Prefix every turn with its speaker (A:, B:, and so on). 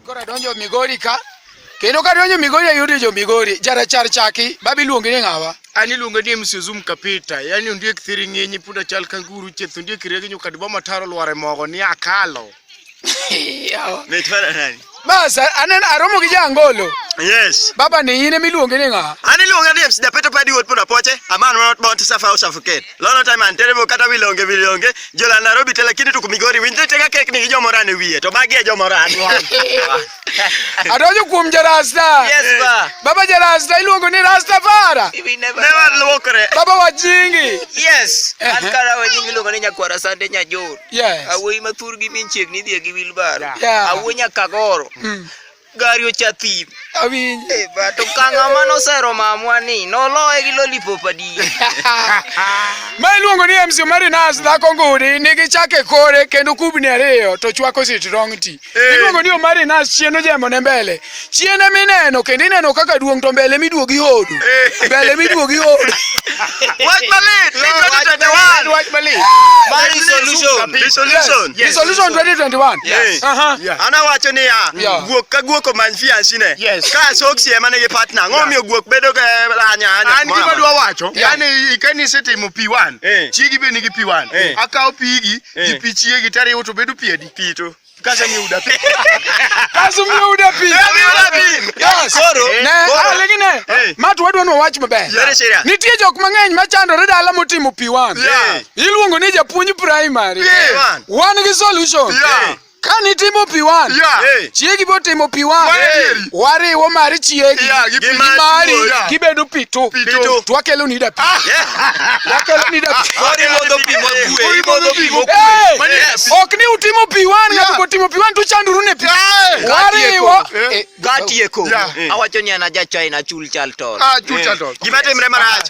A: Kora donjo Migori ka kendo ka donjo Migori ayudo jo Migori jarachar chaki babi luongi ni ng'awa ani luongo ni msuzum
B: kapita yani ondiek thiri ng'inyi punda chal kanguru cheth ondiek regi nyukadi boma taro lware mogo ni akalo
C: Naitwa nani? Mas anen
A: aromo gi jangolo. Yes. Baba
C: ni yine miluonge
A: ni nga. Ani luonge ni MC Dapeto
C: Padi Wot Pona Poche, a man not born to suffer or suffocate. Lono time and terrible kata wilonge wilonge, jola Nairobi tele kini tuku Migori winje tega kek ni jomora ne wiye, to bagi e jomora ani. Adonjo
A: kuom jarasta. Yes ba. Baba
C: jarasta iluongo
A: ni Rasta Fara. Never
C: luokre. Baba wajingi.
A: Yes. An
D: kara wajingi iluongo ni Nyakwara Sande Nyajoro. Yes. Awuoyi ma
A: thurgi min
D: chiegni dhie gi wilbaro. Yeah. Awuoyi nyaka
A: goro.
D: Mm. Gari ocha thim. Awinjo. Eh,
A: ba to kanga
D: mano sero mamwa ni noloye gi lollipop adi.
A: Ma iluongo ni MC Marinas dhako ngudi nigi chake kore kendo kubni ariyo to chwako sitrong ti. Iluongo ni Omar Inas chien ojembo ne mbele. Chien ema ineno kendo ineno kaka duong' to mbele miduogo ihodo. Mbele miduogo ihodo. Wach
C: malit. Ni 2021. Wach malit.
B: Mari
D: solution. The
C: solution. The solution 2021.
A: Yes. Aha.
C: Ana wacho
A: ni ya Yeah.
C: guok ka guok
A: omany
C: fiansi ne. Yes. Ka soksi ema
B: nigi
C: partner. Ng'o miyo guok bedo ka anya anya. an gima dwa
B: wacho Yeah. yani kane
A: isetimo
B: p1 Eh. chiegi be nigi p1 Eh. akawo pigi gi Eh. pi chiegi tariwo to bedo pi adi pi tu.
A: Kasha mi uda pi. Kasu mi uda pi. Mi uda pi. Yes. Koro. Eh, ne.
C: Ah, lengine.
A: Eh. Matu wadwa no wach maber. Very serious. Nitie jok
C: mang'eny
A: machandore dala motimo pi wan. Iluongo
C: ni japuonj
A: primary. Wan
C: gi solution.
A: Yeah. Kani
B: timo pi
A: wan. Yeah. Chiegi bo
B: timo pi
A: wan. wariwo mar chiegi Yeah, gi gi mari. mari
B: Yeah. gibedo
A: pitu
B: Pitu.
A: to wakelo ni
B: da pi
A: wakelo ni da pi Mori modho pi mokue,
D: Mori modho modho pi pi mokue.
B: Hey! Mani yes. ok
A: ni utimo pi wan Yeah. ng'ato kotimo pi wan to uchanduru ne pi Hey! wariwo Eh. Eh, Gatieko.
D: Yeah. Awacho ni
B: an aja China
D: chul chal tol. Ah, chucha to. Gima
B: timre marach.